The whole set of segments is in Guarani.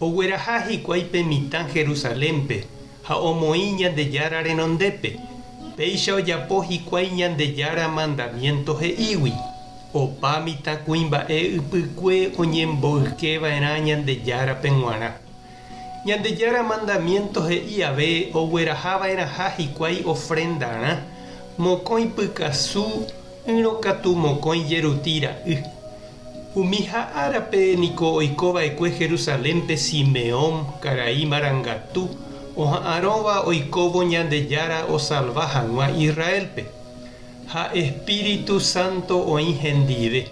Ogueraha hikuái pe mitã Jerusalénpe ha omoĩ Ñandejára renondépe, péicha ojapo hikuái Ñandejára mandamiénto he'ígui, opa mitã kuimba'e ypykue oñemboykeva'erã Ñandejárape g̃uarã. Ñandejára mandamiénto he'i ave oguerahava'erãha hikuái ofrendarã mokõi pykasu ỹrõ katu mokõi jeruti ra'y, Umiha árape niko oiko va'ekue Jerusalénpe Simeón, karai marangatu, oha'arõva oikóvo Ñandejára osalva hag̃ua Israélpe. Ha espíritu sánto oĩ hendive.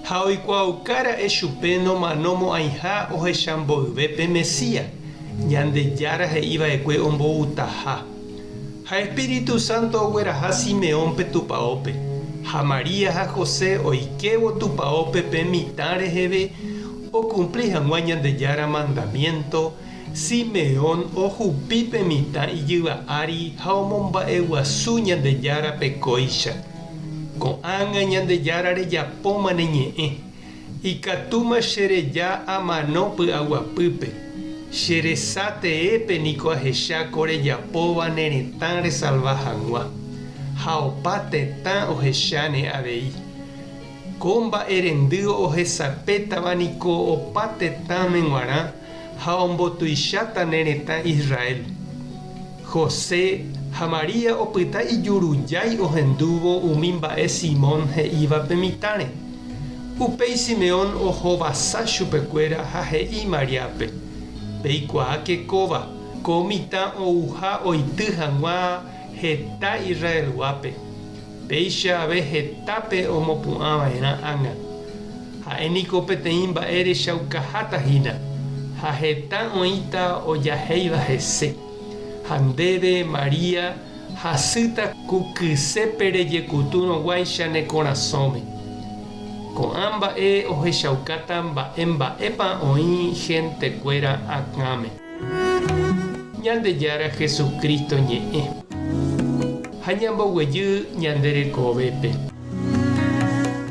Ha oikuaauka ra'e chupe nomano mo'ãiha ohecha mboyve pe Mesías, Ñandejára he'i va'ekue omboutaha. Ha Espíritu Santo ogueraha Simeónpe tupaópe, ha María ha José oikévo tupaópe pe mitã reheve okumpli hag̃ua Ñandejára mandamiénto, Simeón ohupi pe mitã ijyva ári ha omomba'eguasu Ñandejárape kóicha. Ko'ág̃a Ñandejára rejapóma ne ñe'ẽ, Ikatúma che reja amano py'aguapýpe, che resa teépe niko ahecha ko rejapóva ne retã resalva hag̃ua, ha opa tetã ohecha ne avei. Ko mba'erendy ohesapétava niko opa tetãme g̃uarã ha ombotuicháta ne retã Israel. José ha María opyta ijurujái ohendúvo umi mba'e Simón he'ívape mitãre. Upéi Simeón ohovasa chupekuéra ha he'i Mariápe, Peikuaáke kóva, ko mitã ouha oity hag̃ua heta Israelguápe. Péicha ave hetápe omopu'ã va'erã ág̃a. Ha'e niko peteĩ mba'e rechaukaháta hína, ha heta oĩta ojahéiva hese. Ha ndéve, María, hasýta ku kysépe rejekutúrõ guáicha ne korasõme. Ko'ã mba'e ohechaukáta mba'e mba'épa oĩ hentekuéra akãme. Ñandejára Jesucristo ñe'ẽ. Ha ñamboguejy ñande rekovépe.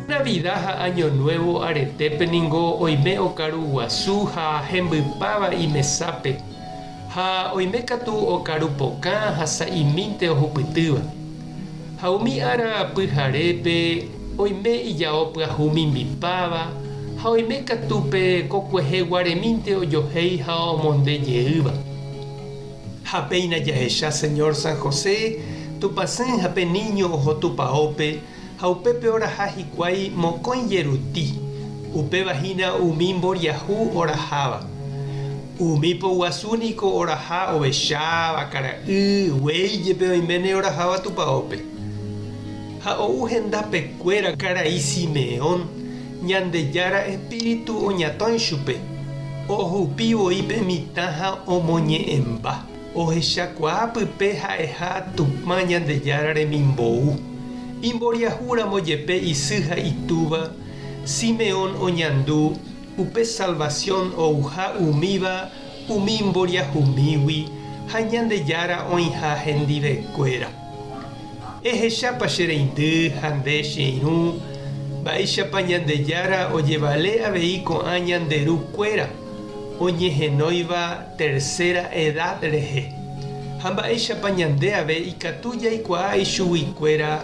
Navida ha Año Nuevo aretépe ningo oime okaru guasu ha hembypáva imesápe, ha oime katu okaru pokã ha sa'imínte ohupytýva. Ha umi ára pyharépe oime ijao pyahu mimbipáva, ha oime katu pe kokuehe guaremínte ojohéi ha omonde jeýva. Ha péina jahecha Señor San José, Tupãsy ha pe niño oho tupaópe, ha upépe oraha hikuái mokõi jeruti, upéva hína umi mboriahu oraháva. Umi po guasu niko oraha ovecháva, kara'y, guéi jepe oiméne oraháva tupaópe. Ha ou hendápe kuéra karai Simeón, Ñandejára Espíritu oñatõi chupe, ohupi voi pe mitã ha omoñe'ẽmba, ohechakuaa pype ha'eha Tupã Ñandejára remimbou. Imboriahu ramo jepe isy ha itúva, Simeón oñandu, Upe salvasión ouha umíva umi mboriahumígui ha Ñandejára oĩha hendivekuéra. Ehechápa che reindy ha nde che irũ, mba'éichapa Ñandejára ojevale avei ko'ã ñande ru kuéra oñehenóiva tercera edad rehe, ha mba'éichapa ñande ave ikatu jaikuaa ichugui kuéra